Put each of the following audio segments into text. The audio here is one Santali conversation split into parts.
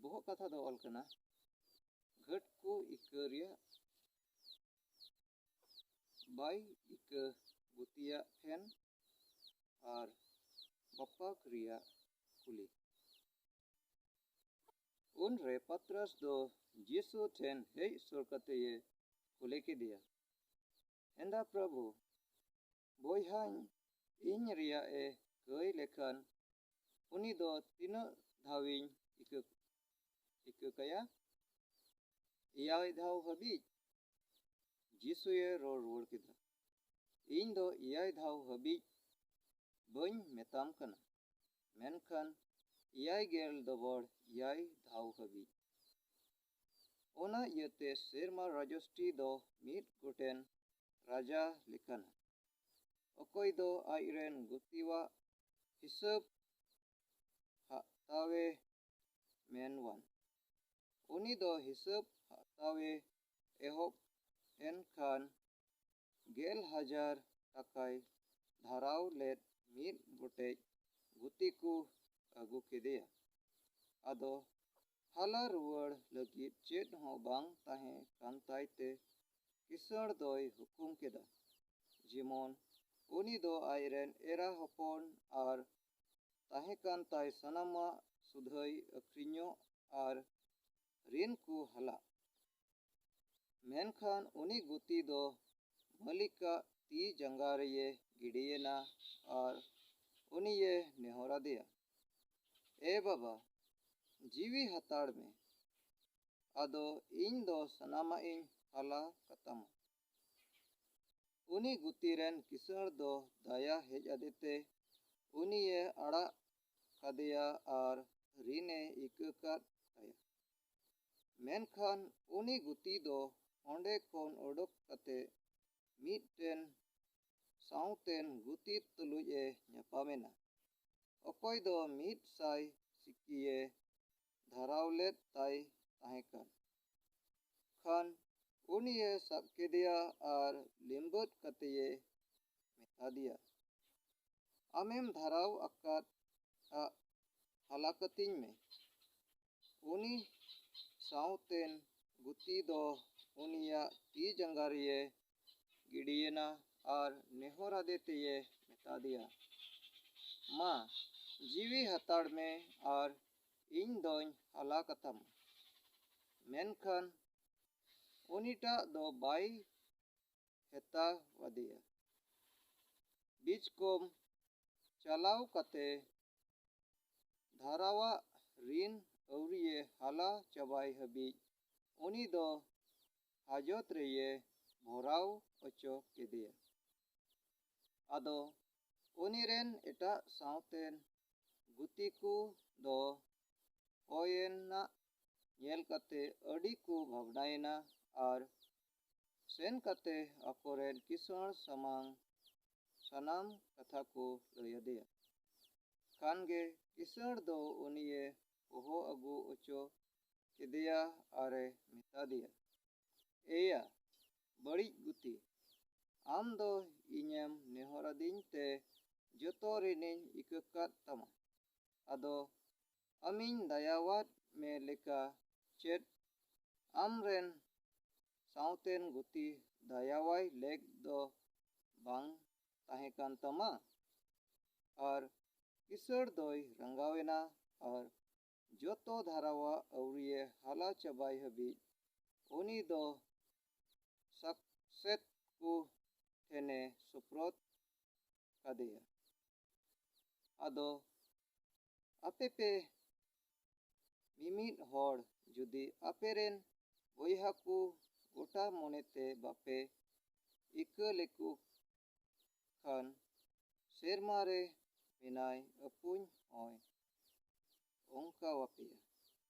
ᱵᱚᱦᱚᱜ ᱠᱟᱛᱷᱟ ᱫᱚ ᱚᱞ ᱠᱟᱱᱟ ᱜᱷᱟᱹᱴ ᱠᱚ ᱤᱠᱟᱹ ᱨᱮᱭᱟᱜ ᱵᱟᱭ ᱤᱠᱟᱹ ᱜᱩᱛᱤᱭᱟᱜ ᱯᱷᱮᱱ ᱟᱨ ᱵᱟᱯᱟᱠ ᱨᱮᱭᱟᱜ ᱠᱩᱞᱤ ᱩᱱᱨᱮ ᱯᱟᱛᱨᱟᱥ ᱫᱚ ᱡᱤᱥᱩ ᱴᱷᱮᱱ ᱦᱮᱡ ᱥᱩᱨ ᱠᱟᱛᱮᱭᱮ ᱠᱩᱞᱤ ᱠᱮᱫᱮᱭᱟ ᱦᱮᱸᱫᱟ ᱯᱨᱚᱵᱷᱩ ᱵᱚᱭᱦᱟᱧ ᱤᱧ ᱨᱮᱭᱟᱜ ᱮ ᱠᱟᱹᱭ ᱞᱮᱠᱷᱟᱱ ᱩᱱᱤ ᱫᱚ ᱛᱤᱱᱟᱹᱜ ᱫᱷᱟᱣᱤᱧ ᱤᱠᱟᱹ ᱤᱠᱟᱹ ᱠᱟᱭᱟ? ᱮᱭᱟᱭ ᱫᱷᱟᱣ ᱦᱟᱹᱵᱤᱡ? ᱡᱤᱥᱩᱭᱮ ᱨᱚᱲ ᱨᱩᱣᱟᱹᱲ ᱠᱮᱫᱟ, ᱤᱧ ᱫᱚ ᱮᱭᱟᱭ ᱫᱷᱟᱣ ᱦᱟᱹᱵᱤᱡ ᱵᱟᱹᱧ ᱢᱮᱛᱟᱢ ᱠᱟᱱᱟ, ᱢᱮᱱᱠᱷᱟᱱ ᱮᱭᱟᱭ ᱜᱮᱞ ᱫᱚᱵᱚᱲ ᱮᱭᱟᱭ ᱫᱷᱟᱣ ᱦᱟᱹᱵᱤᱡ᱾ ᱚᱱᱟ ᱤᱭᱟᱹᱛᱮ ᱥᱮᱨᱢᱟ ᱨᱟᱡᱚᱥᱴᱤ ᱫᱚ ᱢᱤᱫ ᱜᱚᱴᱮᱱ ᱨᱟᱡᱟ ᱞᱮᱠᱟᱱᱟ, ᱚᱠᱚᱭ ᱫᱚ ᱟᱡ ᱨᱮᱱ ᱜᱩᱛᱤᱣᱟᱜ ᱦᱤᱥᱟᱹᱵᱽ ᱦᱟᱜᱛᱟᱣᱮ ᱢᱮᱱᱣᱟᱱ᱾ ᱩᱱᱤ ᱫᱚ ᱦᱤᱥᱟᱹᱵᱽ ᱦᱟᱜᱛᱟᱣᱮ ᱮᱦᱚᱵ ᱮᱱ ᱠᱷᱟᱱ ᱜᱮᱞ ᱦᱟᱡᱟᱨ ᱴᱟᱠᱟᱭ ᱫᱷᱟᱨᱟᱣ ᱞᱮᱫ ᱢᱤᱫ ᱜᱚᱴᱮᱡ ᱜᱩᱛᱤ ᱠᱚ ᱟᱹᱜᱩ ᱠᱮᱫᱮᱭᱟ᱾ ᱟᱫᱚ ᱦᱟᱞᱟ ᱨᱩᱣᱟᱹᱲ ᱞᱟᱹᱜᱤᱫ ᱪᱮᱫ ᱦᱚᱸ ᱵᱟᱝ ᱛᱟᱦᱮᱸ ᱠᱟᱱ ᱛᱟᱭ ᱛᱮ ᱠᱤᱥᱟᱹᱬ ᱫᱚᱭ ᱦᱩᱠᱩᱢ ᱠᱮᱫᱟ ᱡᱮᱢᱚᱱ ᱩᱱᱤ ᱫᱚ ᱟᱡ ᱨᱮᱱ ᱮᱨᱟ ᱦᱚᱯᱚᱱ ᱟᱨ ᱛᱟᱦᱮᱸ ᱠᱟᱱ ᱛᱟᱭ ᱥᱟᱱᱟᱢᱟᱜ ᱥᱩᱫᱷᱟᱹᱭ ᱟᱹᱠᱷᱨᱤᱧᱚᱜ ᱟᱨ ᱨᱤᱱ ᱠᱚ ᱦᱟᱞᱟᱜ᱾ ᱢᱮᱱᱠᱷᱟᱱ ᱩᱱᱤ ᱜᱩᱛᱤ ᱫᱚ ᱢᱟᱹᱞᱤᱠᱟᱜ ᱛᱤ ᱡᱟᱸᱜᱟ ᱨᱮᱭᱮ ᱜᱤᱰᱤᱭᱮᱱᱟ ᱟᱨ ᱩᱱᱤᱭᱮ ᱱᱮᱦᱚᱨ ᱟᱫᱮᱭᱟ, ᱮ ᱵᱟᱵᱟ, ᱡᱤᱣᱤ ᱦᱟᱛᱟᱲ ᱢᱮ, ᱟᱫᱚ ᱤᱧ ᱫᱚ ᱥᱟᱱᱟᱢᱟᱜ ᱤᱧ ᱦᱟᱞᱟ ᱠᱟᱛᱟᱢᱟ᱾ ᱩᱱᱤ ᱜᱩᱛᱤ ᱨᱮᱱ ᱠᱤᱥᱟᱹᱬ ᱫᱚ ᱫᱟᱭᱟ ᱦᱮᱡ ᱟᱫᱮᱛᱮ ᱩᱱᱤᱭᱮ ᱟᱲᱟᱜ ᱠᱟᱫᱮᱭᱟ ᱟᱨ ᱨᱤᱱᱮ ᱤᱠᱟᱹ ᱠᱟᱫ ᱛᱟᱭᱟ᱾ ᱢᱮᱱᱠᱷᱟᱱ ᱩᱱᱤ ᱜᱩᱛᱤ ᱫᱚ ᱚᱸᱰᱮ ᱠᱷᱚᱱ ᱚᱰᱚᱠ ᱠᱟᱛᱮ ᱢᱤᱫᱴᱮᱱ ᱥᱟᱶᱛᱮᱱ ᱜᱩᱛᱤ ᱛᱩᱞᱩᱡ ᱮ ᱧᱟᱯᱟᱢ ᱮᱱᱟ, ᱚᱠᱚᱭ ᱫᱚ ᱢᱤᱫ ᱥᱟᱭ ᱥᱤᱠᱤᱭᱮ ᱫᱷᱟᱨᱟᱣ ᱞᱮᱫ ᱛᱟᱭ ᱛᱟᱦᱮᱸ ᱠᱟᱱ᱾ ᱠᱷᱟᱱ ᱩᱱᱤᱭᱮ ᱥᱟᱵ ᱠᱮᱫᱮᱭᱟ ᱟᱨ ᱞᱤᱢᱵᱟᱹᱫ ᱠᱟᱛᱮᱭᱮ ᱢᱮᱛᱟᱫᱮᱭᱟ, ᱟᱢᱮᱢ ᱫᱷᱟᱨᱟᱣ ᱟᱠᱟᱫ ᱟᱜ ᱦᱟᱞᱟ ᱠᱟᱹᱛᱤᱧ ᱢᱮ᱾ ᱩᱱᱤ ᱥᱟᱶᱛᱮᱱ ᱜᱩᱛᱤ ᱫᱚ ᱩᱱᱤᱭᱟᱜ ᱛᱤ ᱡᱟᱸᱜᱟ ᱨᱮᱭᱮ ᱜᱤᱰᱤᱭᱮᱱᱟ ᱟᱨ ᱱᱮᱦᱚᱨ ᱟᱫᱮ ᱛᱮᱭᱮ ᱢᱮᱛᱟ ᱫᱮᱭᱟ, ᱢᱟ, ᱡᱤᱣᱤ ᱦᱟᱛᱟᱲ ᱢᱮ ᱟᱨ ᱤᱧ ᱫᱚᱧ ᱦᱟᱞᱟ ᱠᱟᱛᱟᱢᱟ᱾ ᱢᱮᱱᱠᱷᱟᱱ ᱩᱱᱤᱴᱟᱜ ᱫᱚ ᱵᱟᱭ ᱦᱮᱛᱟᱣ ᱟᱫᱮᱭᱟ᱾ ᱵᱤᱪᱠᱚᱢ ᱪᱟᱞᱟᱣ ᱠᱟᱛᱮ ᱫᱷᱟᱨᱟᱣᱟᱜ ᱨᱤᱱ ᱟᱹᱣᱨᱤᱭᱮ ᱦᱟᱞᱟ ᱪᱟᱵᱟᱭ ᱦᱟᱹᱵᱤᱡ ᱩᱱᱤ ᱫᱚ ᱦᱟᱡᱚᱛ ᱨᱮᱭᱮ ᱵᱷᱚᱨᱟᱣ ᱚᱪᱚ ᱠᱮᱫᱮᱭᱟ᱾ ᱟᱫᱚ ᱩᱱᱤ ᱨᱮᱱ ᱮᱴᱟᱜ ᱥᱟᱶᱛᱮᱱ ᱜᱩᱛᱤ ᱠᱚ ᱫᱚ ᱚᱭᱮᱱᱟᱜ ᱧᱮᱞ ᱠᱟᱛᱮ ᱟᱹᱰᱤ ᱠᱚ ᱵᱷᱟᱵᱽᱱᱟᱭᱮᱱᱟ ᱟᱨ ᱥᱮᱱ ᱠᱟᱛᱮ ᱟᱠᱚ ᱨᱮᱱ ᱠᱤᱥᱟᱹᱬ ᱥᱟᱢᱟᱝ ᱥᱟᱱᱟᱢ ᱠᱟᱛᱷᱟ ᱠᱚ ᱞᱟᱹᱭ ᱟᱫᱮᱭᱟ᱾ ᱠᱷᱟᱱ ᱜᱮ ᱠᱤᱥᱟᱹᱬ ᱫᱚ ᱩᱱᱤᱭᱮ ᱦᱚᱦᱚ ᱟᱹᱜᱩ ᱚᱪᱚ ᱠᱮᱫᱮᱭᱟ ᱟᱨ ᱮ ᱢᱮᱛᱟ ᱫᱮᱭᱟ, ᱮᱭᱟ ᱵᱟᱹᱲᱤᱡ ᱜᱩᱛᱤ, ᱟᱢ ᱫᱚ ᱤᱧᱮᱢ ᱱᱮᱦᱚᱨᱟᱫᱤᱧ ᱛᱮ ᱡᱚᱛᱚ ᱨᱤᱱᱤᱧ ᱤᱠᱟᱹ ᱠᱟᱫ ᱛᱟᱢᱟ, ᱟᱫᱚ ᱟᱢᱤᱧ ᱫᱟᱭᱟᱣᱟᱫ ᱢᱮ ᱞᱮᱠᱟ ᱪᱮᱫ ᱟᱢ ᱨᱮᱱ ᱥᱟᱶᱛᱮᱱ ᱜᱩᱛᱤ ᱫᱟᱭᱟᱣᱟᱭ ᱞᱮᱠ ᱫᱚ ᱵᱟᱝ ᱛᱟᱦᱮᱸ ᱠᱟᱱ ᱛᱟᱢᱟ? ᱟᱨ ᱠᱤᱥᱟᱹᱬ ᱫᱚᱭ ᱨᱟᱸᱜᱟᱣ ᱮᱱᱟ ᱟᱨ ᱡᱚᱛᱚ ᱫᱷᱟᱨᱟᱣᱟᱜ ᱟᱹᱣᱨᱤᱭᱮ ᱦᱟᱞᱟ ᱪᱟᱵᱟᱭ ᱦᱟᱹᱵᱤᱡ ᱩᱱᱤ ᱫᱚ ᱥᱟᱠᱥᱮᱛ ᱠᱚ ᱴᱷᱮᱱᱮ ᱥᱩᱯᱨᱚᱫ ᱠᱟᱫᱮᱭᱟ᱾ ᱟᱫᱚ ᱟᱯᱮ ᱯᱮ ᱢᱤᱢᱤᱫ ᱦᱚᱲ ᱡᱩᱫᱤ ᱟᱯᱮ ᱨᱮᱱ ᱵᱚᱭᱦᱟ ᱠᱚ ᱜᱚᱴᱟ ᱢᱚᱱᱮ ᱛᱮ ᱵᱟᱯᱮ ᱤᱠᱟᱹ ᱞᱮᱠᱚ ᱠᱷᱟᱱ ᱥᱮᱨᱢᱟ ᱨᱮ ᱢᱮᱱᱟᱭ ᱟᱹᱯᱩᱧ ᱦᱚᱸᱭ ᱚᱱᱠᱟᱣᱟᱯᱮᱭᱟ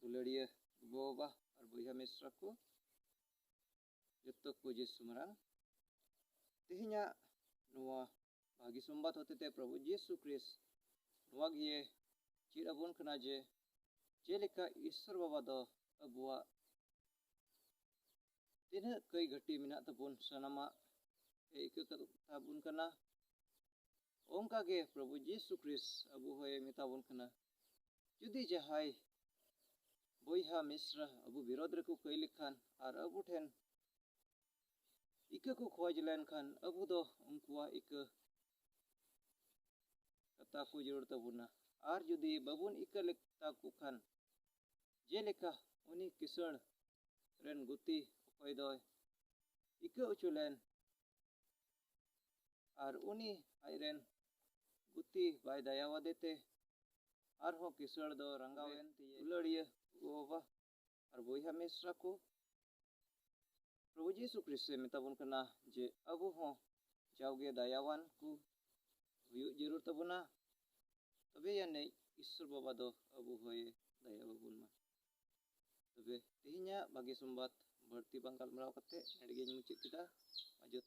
ᱫᱩᱞᱟᱹᱲᱤᱭᱟᱹ ᱜᱚᱼᱵᱟᱵᱟ ᱟᱨ ᱵᱚᱭᱦᱟ ᱢᱤᱥᱨᱟ ᱠᱚ ᱡᱚᱛᱚ ᱠᱚ ᱡᱤᱥᱩ ᱢᱟᱨᱟᱝ ᱛᱮᱦᱮᱧᱟᱜ ᱱᱚᱣᱟ ᱵᱷᱟᱹᱜᱤ ᱥᱚᱢᱵᱟᱫ ᱦᱚᱛᱮᱛᱮ ᱯᱨᱚᱵᱷᱩ ᱡᱤᱥᱩ ᱠᱨᱤᱥ ᱱᱚᱣᱟ ᱜᱮ ᱪᱮᱫ ᱟᱵᱚᱱ ᱠᱟᱱᱟ ᱡᱮ ᱪᱮᱫ ᱞᱮᱠᱟ ᱤᱥᱥᱚᱨ ᱵᱟᱵᱟ ᱫᱚ ᱟᱵᱚᱣᱟᱜ ᱛᱤᱱᱟᱹᱜ ᱠᱟᱹᱭ ᱜᱷᱟᱹᱴᱤ ᱢᱮᱱᱟᱜ ᱛᱟᱵᱚᱱ ᱥᱟᱱᱟᱢᱟᱜ ᱮ ᱤᱠᱟᱹ ᱠᱟᱛᱟᱵᱚᱱ ᱠᱟᱱᱟ ᱚᱱᱠᱟ ᱜᱮ ᱯᱨᱚᱵᱷᱩ ᱡᱤᱥᱩ ᱠᱷᱨᱤᱥ ᱟᱵᱚ ᱦᱚᱸᱭ ᱢᱮᱛᱟ ᱵᱚᱱ ᱠᱟᱱᱟ ᱡᱩᱫᱤ ᱡᱟᱦᱟᱸᱭ ᱵᱚᱭᱦᱟ ᱢᱤᱥᱨᱟ ᱟᱵᱚ ᱵᱤᱨᱚᱫᱷ ᱨᱮᱠᱚ ᱠᱟᱹᱭ ᱞᱮᱠᱷᱟᱱ ᱟᱨ ᱟᱵᱚ ᱴᱷᱮᱱ ᱤᱠᱟᱹ ᱠᱚ ᱠᱷᱚᱡᱽ ᱞᱮᱱᱠᱷᱟᱱ ᱟᱵᱚ ᱫᱚ ᱩᱱᱠᱩᱣᱟᱜ ᱤᱠᱟᱹ ᱠᱟᱛᱟ ᱠᱚ ᱡᱟᱹᱨᱩᱲ ᱛᱟᱵᱚᱱᱟ ᱟᱨ ᱡᱩᱫᱤ ᱵᱟᱵᱚᱱ ᱤᱠᱟᱹ ᱞᱮᱠᱛᱟ ᱠᱚ ᱠᱷᱟᱱ ᱡᱮᱞᱮᱠᱟ ᱩᱱᱤ ᱠᱤᱥᱟᱹᱬ ᱨᱮᱱ ᱜᱩᱛᱤ ᱚᱠᱚᱭ ᱫᱚᱭ ᱤᱠᱟᱹ ᱚᱪᱚ ᱞᱮᱱ ᱟᱨ ᱩᱱᱤ ᱟᱡ ᱨᱮᱱ ᱜᱩᱛᱤ ᱵᱟᱭ ᱫᱟᱭᱟᱣᱟᱫᱮ ᱛᱮ ᱟᱨᱦᱚᱸ ᱠᱤᱥᱟᱹᱬ ᱫᱚ ᱨᱟᱸᱜᱟᱣ ᱮᱱ ᱛᱮ ᱫᱩᱞᱟᱹᱲᱤᱭᱟᱹ ᱜᱚᱼᱵᱟᱵᱟ ᱟᱨ ᱵᱚᱭᱦᱟ ᱢᱤᱥᱨᱟ ᱠᱚ ᱯᱨᱚᱵᱷᱩ ᱡᱤᱥᱩ ᱠᱨᱤᱥᱴᱮ ᱢᱮᱛᱟᱵᱚᱱ ᱠᱟᱱᱟ ᱡᱮ ᱟᱵᱚ ᱦᱚᱸ ᱡᱟᱣᱜᱮ ᱫᱟᱭᱟᱣᱟᱱ ᱠᱚ ᱦᱩᱭᱩᱜ ᱡᱟᱹᱨᱩᱲ ᱛᱟᱵᱚᱱᱟ ᱛᱚᱵᱮ ᱟᱹᱱᱤᱡ ᱤᱥᱥᱚᱨ ᱵᱟᱵᱟ ᱫᱚ ᱟᱵᱚ ᱦᱚᱸᱭ ᱫᱟᱭᱟᱣᱟᱵᱚᱱ ᱢᱟ ᱛᱚᱵᱮ ᱛᱮᱦᱮᱧᱟᱜ ᱵᱷᱟᱜᱮ ᱥᱚᱢᱵᱟᱫ ᱵᱟᱹᱲᱛᱤ ᱵᱟᱝ ᱜᱟᱞᱢᱟᱨᱟᱣ ᱠᱟᱛᱮ ᱱᱚᱰᱮ ᱜᱤᱧ ᱢᱩᱪᱟᱹᱫ ᱠᱮᱫᱟ ᱡᱚᱛᱚ